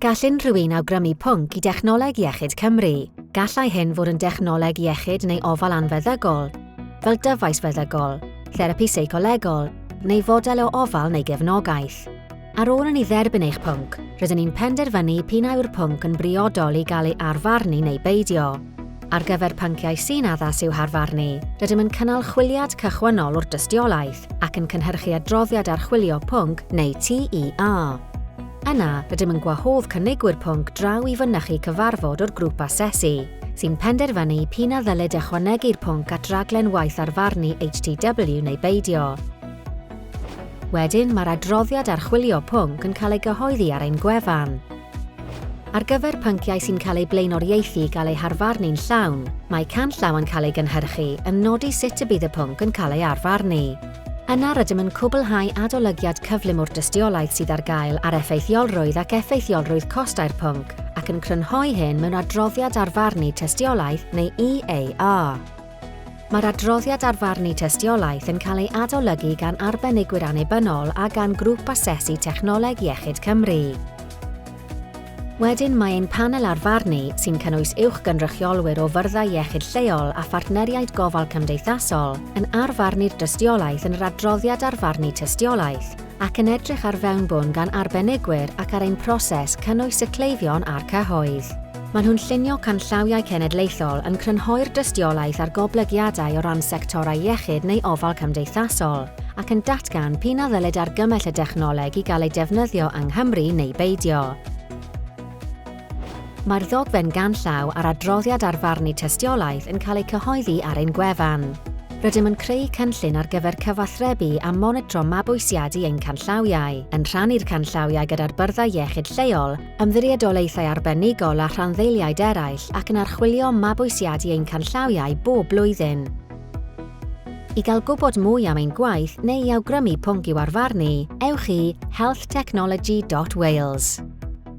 Gall unrhyw un awgrymu pwnc i Dechnoleg Iechyd Cymru. Gallai hyn fod yn dechnoleg iechyd neu ofal anfeddygol, fel dyfais feddygol, therapi seicolegol, neu fodel o ofal neu gefnogaeth. Ar ôl i ni dderbyn eich pwnc, rydyn ni'n penderfynu p'un a yw'r pwnc yn briodol i gael ei arfarnu neu beidio. Ar gyfer pynciau sy'n addas i'w harfarnu, rydym yn cynnal chwiliad cychwynnol o'r dystiolaeth ac yn cynhyrchu adroddiad archwilio pwnc neu TEA. Yna, rydym yn gwahodd cynigwyr pwnc draw i fynychu cyfarfod o'r Grŵp Asesu, sy'n penderfynu p'un a ddylid ychwanegu'r pwnc at raglen waith arfarnu HTW neu beidio. Wedyn, mae'r adroddiad archwilio pwnc yn cael ei gyhoeddi ar ein gwefan. Ar gyfer pynciau sy'n cael eu blaenoriaethu i gael eu harfarnu'n llawn, mae canllaw yn cael ei gynhyrchu yn nodi sut y bydd y pwnc yn cael ei arfarnu. Yna rydym yn cwblhau adolygiad cyflym o'r dystiolaeth sydd ar gael ar effeithiolrwydd ac effeithiolrwydd costau'r pwnc ac yn crynhoi hyn mewn adroddiad arfarnu tystiolaeth neu EAR. Mae'r adroddiad ar farnu tystiolaeth yn cael ei adolygu gan arbenigwyr annibynnol a gan Grŵp Asesu Technoleg Iechyd Cymru. Wedyn mae ein panel ar farnu, sy'n cynnwys uwchgynrychiolwyr o fyrddau iechyd lleol a phartneriaid gofal cymdeithasol, yn arfarnu'r dystiolaeth yn yr adroddiad ar farnu tystiolaeth, ac yn edrych ar fewnbwn gan arbenigwyr ac ar ein proses cynnwys y cleifion a'r cyhoedd. Maen nhw'n llunio canllawiau cenedlaethol yn crynhoi'r dystiolaeth ar goblygiadau o ran sectorau iechyd neu ofal cymdeithasol, ac yn datgan p'un a ddylid argymell y dechnoleg i gael ei defnyddio yng Nghymru neu beidio. Mae'r ddogfen ganllaw a'r adroddiad ar farnu tystiolaeth yn cael eu cyhoeddi ar ein gwefan. Rydym yn creu cynllun ar gyfer cyfathrebu a monitro mabwysiadu ein canllawiau, yn rhannu'r canllawiau gyda'r byrddau iechyd lleol, ymddiriedolaethau arbenigol a rhanddeiliaid eraill ac yn archwilio mabwysiadu ein canllawiau bob blwyddyn. I gael gwybod mwy am ein gwaith neu i awgrymu pwnc i'w arfarnu, ewch i healthtechnology.wales.